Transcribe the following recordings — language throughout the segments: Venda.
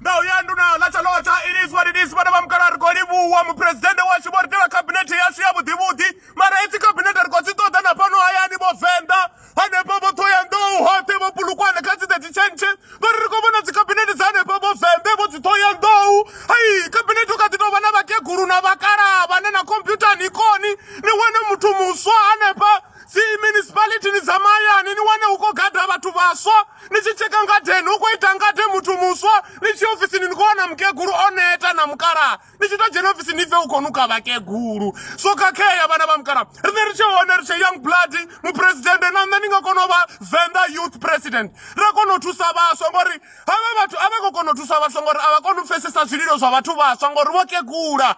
ndau ya nduna ḽa tshalotha it is what it is vhana vha mukala ri khou livhuwa muphuresidennde washu vho ri tela khabinethe yashu ya vhuḓivhuḓi mara hedzi khabinethe ri khou dzi ṱoḓa na fhano hayani vho venḓa hanefha vho ṱhoyandou hoṱhe vho pulukwane kha dzi thirty tshentshe vha ri ri khou vhona dzikhabinethe dza hanefha vho venḓe vho dzi ṱhoyandou hai khabinethe u kha ḓi tou vha na vhakegulu na vhakalaha vhane na khomphyutha ni koni ni wane muthu muswa hanefha dzi municipality ni tsamayani ni wane hu khou gada vhathu vhaswa ni tshi tsheka ngadeni hu khou ita ngade muthu muswa ni tshi ofisini ni khou wana mukegulu o neta na mukalaha ni tshi to dzhena ofisini ni pfe hu khou nuka vhakegulu so khakhea vhana vha mukalaha riṋe ri tshe hone ri tshe young blood muphuresidennde na nṋe ni nga kona u vha venḓa youth president ra kona u thusa vhaswa ngori havha vhathu a vha khou kona u thusa vhaswa ngori a vha koni u pfesesa zwililo zwa vhathu vhaswa ngori vho kegula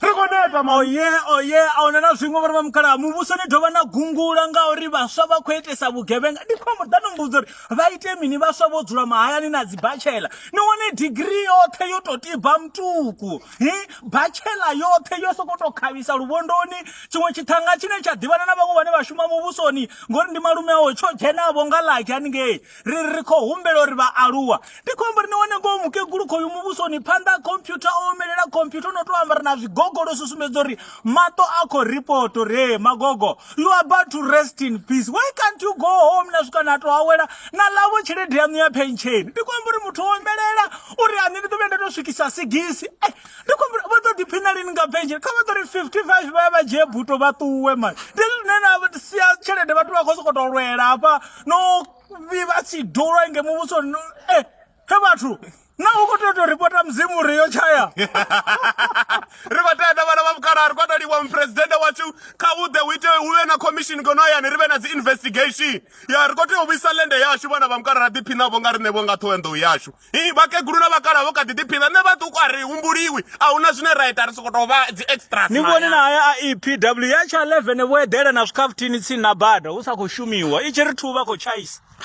ri khou neta oye oye a huna na zwiṅwe vhari vha mukhala muvhuso ni dovha na gungula ngauri vhaswa vha khou itesa vhugevhenga ndi khou amba ḓano mmbudza uri vha ite mini vhaswa vho dzula mahayani na dzi bachela ni wane digiri yoṱhe yo tou tiba mutuku hi bachela yoṱhe yo sokou tou khavhisa luvhondoni tshiṅwe tshithanga tshine tsha ḓivhana na vhaṅwe vhane vha shuma muvhusoni ngori ndi malume awo tsho dzhenavho nga laki haningei ri ri khou humbela uri vhaaluwa ndi khou amba ri ni wane ngoho mukegulu khoyu muvhusoni phanḓa ha khomphyutha o omelela khomphyutha o no tou amba ri na zwigogolo zwi sumbedza uri maṱo a khou ripoto ri ee magogo you are about to rest in peace why can't you go home na swika na tou awela na lavo tshelede yaṋu ya pensheni ndi khou amba uri muthu o omelela uri ane ndi ḓo vhuya nda tou swikisa sigisi eh, ndi khou amba vha ḓo ḓiphina lini nga pensheni kha vha ḓo ri 55 vha ya vha dzhie buto vha ṱuwe mani ndi zwine na sia tshelede vhathu vha khou sokou tou lwela hafha no vhivha sidulwa inge muvhuso no eh he vhathu na u khou tea u tou ripota mudzimu ri yo tshaya ri khou tea na vhana vha mukalaha ri khou tou livha muphuresidennde washu kha u ḓe u ite u vhe na commission ngeno hayani ri vhe na dzi investigation ya ri khou tea u vhuisa lende yashu vhana vha mukalaha ra ḓiphinavho nga riṋevho nga ṱhoenḓou yashu vhakegulu na vhakala vho kha ḓi ḓiphina nṋe vhaṱuku a ri humbuliwi a huna zwine ra ita ri soko tou vha dzi extras ni vhone na haya a epw ya tsha 11 vho eḓela na zwikhafuthini tsini na bada hu sa khou shumiwa i tshi ri thu vha khou tshaisa